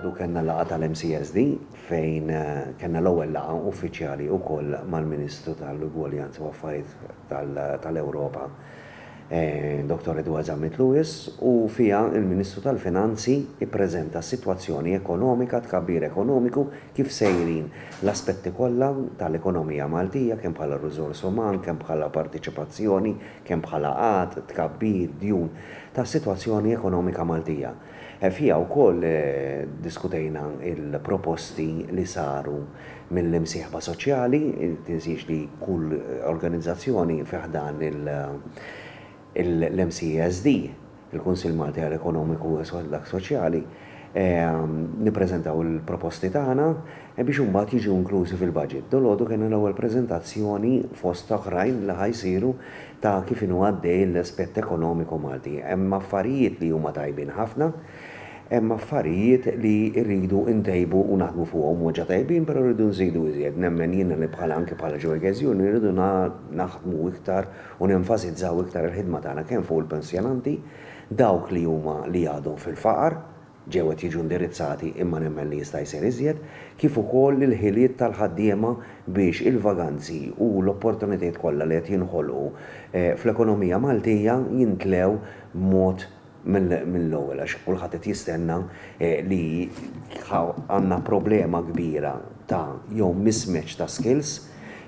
Dalodu kellna laqgħa tal-MCSD fejn kellna l-ewwel laqgħa uffiċjali wkoll mal-Ministru tal-Ugwaljanza u Affarijiet tal-Ewropa, Dottor Edward Zammit Lewis, u fiha l-Ministru tal-Finanzi ppreżenta s-sitwazzjoni ekonomika, t-tkabbir ekonomiku, kif sejrin l-aspetti kollha tal-ekonomija Maltija kemm bħala riżors uman, kemm bħala parteċipazzjoni, kemm bħala qgħad, tkabbir, djun, tas-sitwazzjoni ekonomika Maltija. Fiha wkoll diskutejna l-proposti li saru mill-imsieħba soċjali, tinsiex li kull organizzazzjoni fi ħdan l-MCESD, il-Kunsill Malti għal Ekonomiku u dak Soċjali, nippreżentaw il-proposti tagħna biex imbagħad jiġu inklużi fil-baġit. Dalgħodu kellna l-ewwel preżentazzjoni fost oħrajn li ħa jsiru ta' kif inhu għaddej l-aspett ekonomiku Malti. Hemm affarijiet li huma tajbin ħafna, hemm affarijiet li rridu ntejbu u naħdmu fuqhom. Huma ġa tajbin però rridu nżidu iżjed. Nemmen jiena li bħala anki bħala Joy Gazione rridu naħdmu iktar u nenfasizzaw iktar il-ħidma tagħna kemm fuq il-pensjonanti, dawk li huma li għadhom fil-faqar, ġew qed jiġu indirizzati imma nemmen li jista' jsir iżjed, kif ukoll il-ħiliet tal-ħaddiema biex il-vaganzi u l-opportunitajiet kollha li qed jinħolqu fl-ekonomija Maltija jintlew b'mod mill-ewwel għax kulħadd qed jistenna li għandna problema kbira ta' jew mismatch ta' skills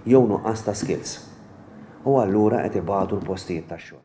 jew nuqqas ta' skills u allura qed ibatu l-postijiet tax-xogħol.